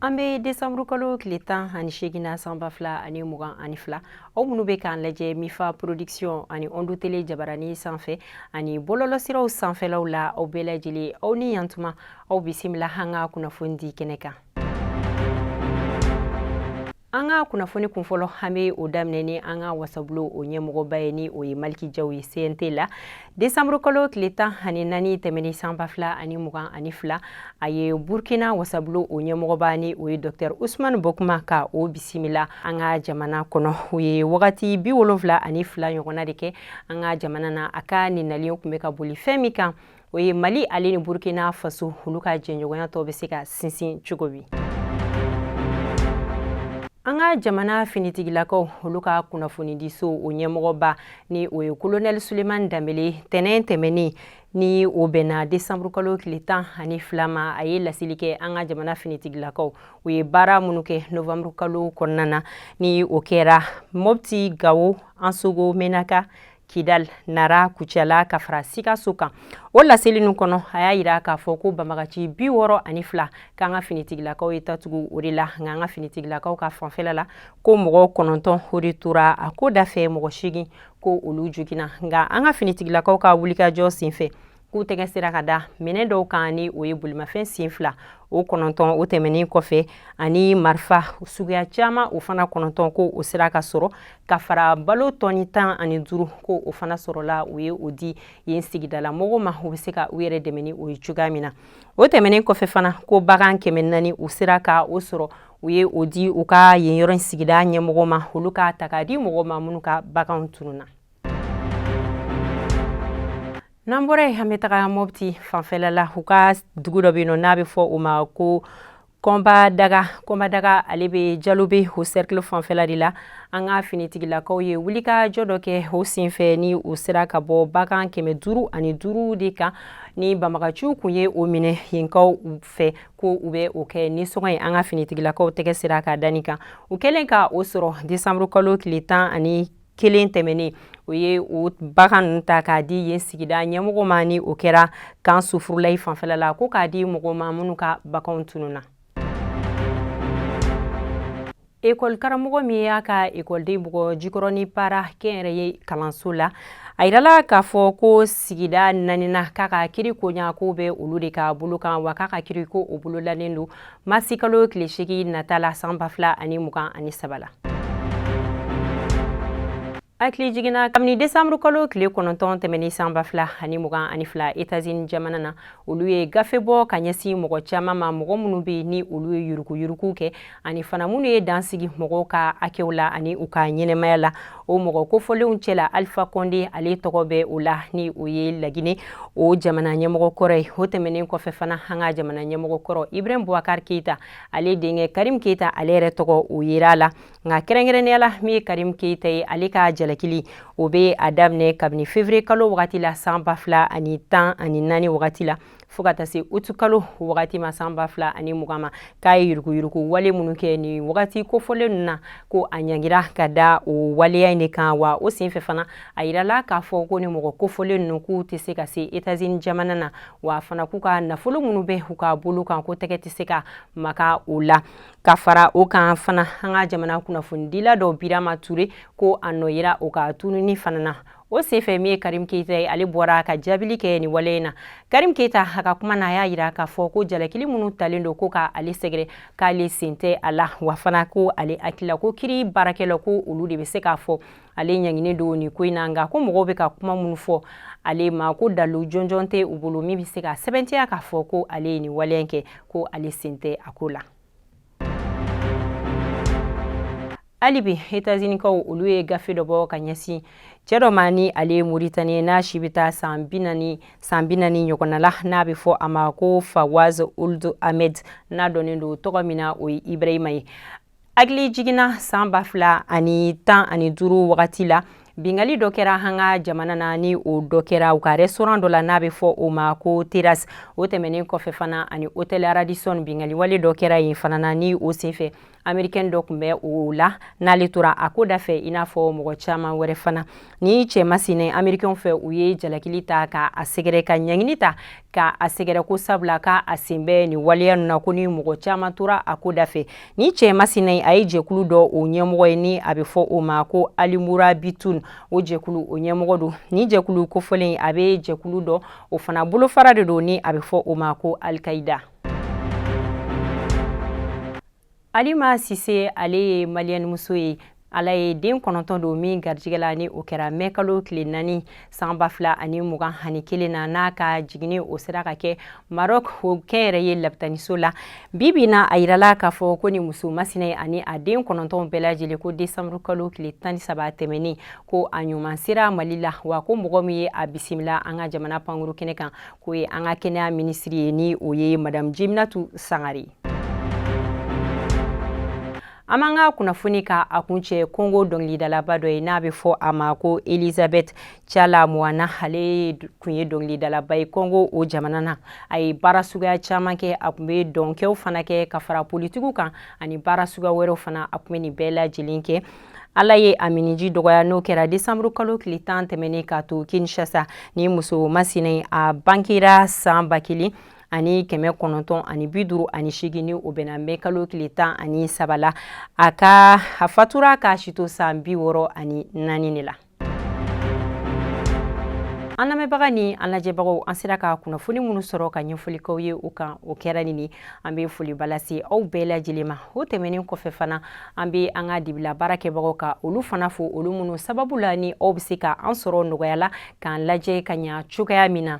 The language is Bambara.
an bɛ desanburu kalo tile tan ani seegin na san ba fila ani mugan ani fila aw minnu bɛ k'an lajɛ mifa production ani ondu tele jabarani sanfɛ ani bɔlɔlɔsiraw sanfɛlaw la aw bɛɛ lajɛlen aw ni yantuma aw bisimila an ka kunnafoni di kɛnɛ kan an ka kunnafoni kunfɔlɔ an bɛ o daminɛ ni an ka wasabulo o ɲɛmɔgɔba ye ni o ye maliki jaw ye cnt la desanburu kalo tile tan ani naani tɛmɛni sanba fila ani mugan ani fila a ye burkina wasabulo o ɲɛmɔgɔba ni o ye dɔktɛr usumani buguma ka o bisimila an ka jamana kɔnɔ o ye wagati bi wolonfila ani fila ɲɔgɔnna de kɛ an ka jamana na a ka nin nali o kun bɛ ka boli fɛn min kan o ye mali ale ni burkina faso olu ka jɛɲɔgɔnya tɔ bɛ se ka sinsin cogo di an ka jamana finitigilakaw olu ka kunnafonidiso o ɲɛmɔgɔba ni o ye kolonɛli sulemani danbele tɛnɛn tɛmɛnen ni o bɛnna desanburu kalo tile tan ani fila ma a ye laseli kɛ an ka jamana finitigilakaw u ye baara minnu kɛ novanburu kalo kɔnɔna na ni o kɛra mɔpti gawo ansongo menaka Kidal nara kucala ka fara sikaso kan o laseli ninnu kɔnɔ a y'a yira k'a fɔ ko banbagaci bi wɔɔrɔ ani fila k'an ka finitigilakaw ye tatugu o de la nka an ka finitigilakaw ka fanfɛla la ko mɔgɔ kɔnɔntɔn o de tora a ko dafɛ mɔgɔ seegin ko olu joginna nka an ka finitigilakaw ka wulikajɔ senfɛ k'u tɛgɛ sera ka da minɛn dɔw kan ni o ye bolimafɛn sen fila o kɔnɔntɔn o tɛmɛnen kɔfɛ ani marifa suguya caman o fana kɔnɔntɔn ko o sera ka sɔrɔ ka fara balo tɔni tan ani duuru ko o fana sɔrɔla u ye o di yen sigidala mɔgɔw ma u bɛ se ka u yɛrɛ dɛmɛ ni o ye cogoya min na o tɛmɛnen kɔfɛ fana ko bagan kɛmɛ naani u sera ka o sɔrɔ u ye o di u ka yen yɔrɔ in sigida ɲɛmɔgɔ ma olu k'a ta k'a di mɔgɔw ma minnu ka baganw tununna n'an bɔra yen an bɛ taga mɔpti fanfɛla la u ka dugu dɔ bɛ yen nɔ n'a bɛ fɔ o ma ko kɔnbadaga kɔnbadaga ale bɛ jalobe o sɛrikili fanfɛla de la an ka finitigilakaw ye wulikajɔ dɔ kɛ o senfɛ ni u sera ka bɔ bagan kɛmɛ duuru ani duuru de kan ni banbagaciw kun ye o minɛ yenkaw fɛ ko u bɛ o kɛ nisɔngɔ ye an ka finitigilakaw tɛgɛ sera ka da nin kan u kɛlen ka o sɔrɔ desanburukalo tile tan ani kelen tɛmɛnen o ye o bagan ninnu ta k'a di yen sigida ɲɛmɔgɔ ma ni o kɛra kan sufurulayi fanfɛla la ko k'a di mɔgɔw ma minnu ka baganw tununna ekɔli karamɔgɔ min y'a ka ekɔliden bugɔ jikɔrɔni para kɛnyɛrɛye kalanso la a yirala k'a fɔ ko sigida naaninan k'a ka kiri koɲa ko bɛ olu de ka bolo kan wa k'a ka kiri ko o bolodalen don masikalo tile segin nata la san ba fila ani mugan ani saba la hakili jiginna kabini desanburu kalo tile kɔnɔntɔn tɛmɛni san ba fila ani mugan ani fila etazini jamana na olu ye gafe bɔ ka ɲɛsin mɔgɔ caman ma mɔgɔ minnu bɛ ni olu ye yuruguyurugu kɛ ani fana minnu ye dan sigi mɔgɔw ka hakɛw la ani u ka ɲɛnamaya la o mɔgɔ kofɔlenw cɛla alifa kɔnde ale tɔgɔ bɛ o la ni o ye lagine o jamana ɲɛmɔgɔ kɔrɔ ye o tɛmɛnen kɔfɛ fana an ka jamana ɲɛmɔgɔ kɔrɔ ibrahim bubakar keita ale denkɛ karim keita ale yɛrɛ tɔgɔ o yera a la nka kɛrɛnkɛrɛnnenya la min ye karim keita ye ale ka jalakili o bɛ a daminɛ kabini fevrier kalo wagati la san ba fila ani tan ani naani wagati la fo ka taa se utu kalo wagati ma san ba fila ani mugan ma k'a ye yuruguyurugu wale minnu kɛ ni wagati kofɔlen ninnu na ko a ɲangira ka da o waleya in de kan wa o senfɛ fana a yirala k'a fɔ ko ni mɔgɔ kofɔlen ninnu k'u tɛ se ka se etazini jamana na wa fana k'u ka nafolo minnu bɛ u ka bolo kan ko tɛgɛ tɛ se ka maka o la ka fara o kan fana an ka jamana kunnafonidila dɔ birama ture ko a nɔ yera o ka tununi fana na o senfɛ min ye karim keyita ye ale bɔra ka jaabili kɛ nin wale in na karim keyita a ka kuma na a y'a yira k'a fɔ ko jalakili minnu talen don ko ka ale sɛgɛrɛ k'ale sen tɛ a la wa fana ko ale hakilila ko kiri baarakɛlaw ko olu de bɛ se k'a fɔ ale ɲanginen don nin ko in na nka ko mɔgɔw bɛ ka kuma minnu fɔ ale ma ko dalu jɔnjɔn tɛ u bolo min bɛ se ka sɛbɛntiya k'a fɔ ko ale ye nin waleya in kɛ ko ale sen tɛ a ko la hali bi etazini-kaw olu ye gafe dɔ bɔ ka ɲɛsin cɛ dɔ ma ni ale ye moritaniyɛn ye n'a si bɛ taa san bi naani ɲɔgɔnna la n'a bɛ fɔ a ma ko fawaz ould ahmed n'a dɔnnen don tɔgɔ min na o ye ibrahima ye hakili jiginna san ba fila ani tan ani duuru wagati la Binkanni dɔ kɛra an ka jamana na ni o dɔ kɛra u ka restaurant dɔ la n'a bɛ fɔ o ma ko terrasse o tɛmɛnen kɔfɛ fana ani hôtel Radisson binkanni wale dɔ kɛra yen fana na ni o senfɛ americaine dɔ tun bɛ o la n'ale tora a ko da fɛ i n'a fɔ mɔgɔ caman wɛrɛ fana ni cɛ masina americain fɛ u ye jalakili ta ka a sɛgɛrɛ ka ɲangini ta ka a sɛgɛrɛ ko sabula ka a sen bɛ nin waleya ninnu na ko ni mɔgɔ caman tora a ko da fɛ ni cɛ masina ye a ye jɛkulu dɔ o ɲɛmɔgɔ ye ni a bɛ fɔ o ma ko alimurabitun o jɛkulu o ɲɛmɔgɔ don ni jɛkulu kofɔlen a bɛ jɛkulu dɔ o fana bolofara de don ni a bɛ fɔ o ma ko alikayida alima sise ale ye maliyɛnmuso ye ala ye den kɔnɔntɔn don min garijɛgɛ la ni o kɛra mɛ kalo tile naani san ba fila ani mugan ani kelen na n'a ka jigini o sera ka kɛ marɔk o kɛnyɛrɛye labitaniso la bi bi na a yirala k'a fɔ ko nin muso masina ani a den kɔnɔntɔn bɛɛ lajɛlen ko desanburu kalo tile tan ni saba tɛmɛnen ko a ɲuman sera mali la wa ko mɔgɔ min ye a bisimila an ka jamana pankuru kɛnɛ kan k'o ye an ka kɛnɛya minisiri ye ni o ye madamu jeminatu sangare an b'an ka kunnafoni ka a kuncɛ kongo dɔngilidalaba dɔ ye n'a bɛ fɔ a ma ko elizabeth tshala muana ale kun ye dɔngilidalaba ye kongo o jamana na a ye baara suguya caman kɛ a kun bɛ dɔnkɛw fana kɛ ka fara politigiw kan ani baara suguya wɛrɛw fana a kun bɛ nin bɛɛ lajɛlen kɛ ala ye a minniji dɔgɔya n'o kɛra desanburu kalo tile tan tɛmɛnen k'a to kinshasa nin muso masina a bangera san ba kelen ani kɛmɛ kɔnɔntɔn ani bi duuru ani seegin ni o bɛnna mɛ kalo tile tan ani saba la a fatura k'a si to san bi wɔɔrɔ ani naani de la an lamɛnbaga ni an lajɛbagaw an sera ka kunnafoni minnu sɔrɔ ka ɲɛfɔli k'aw ye u kan o kɛra ni ni an be foliba lase aw bɛɛ lajɛlen ma o tɛmɛnin kɔfɛ fana an be an ka dibila baarakɛbagaw ka olu fana fo olu minnu sababu la ni aw be se ka an sɔrɔ nɔgɔya la k'an lajɛ ka ɲa cogoya min na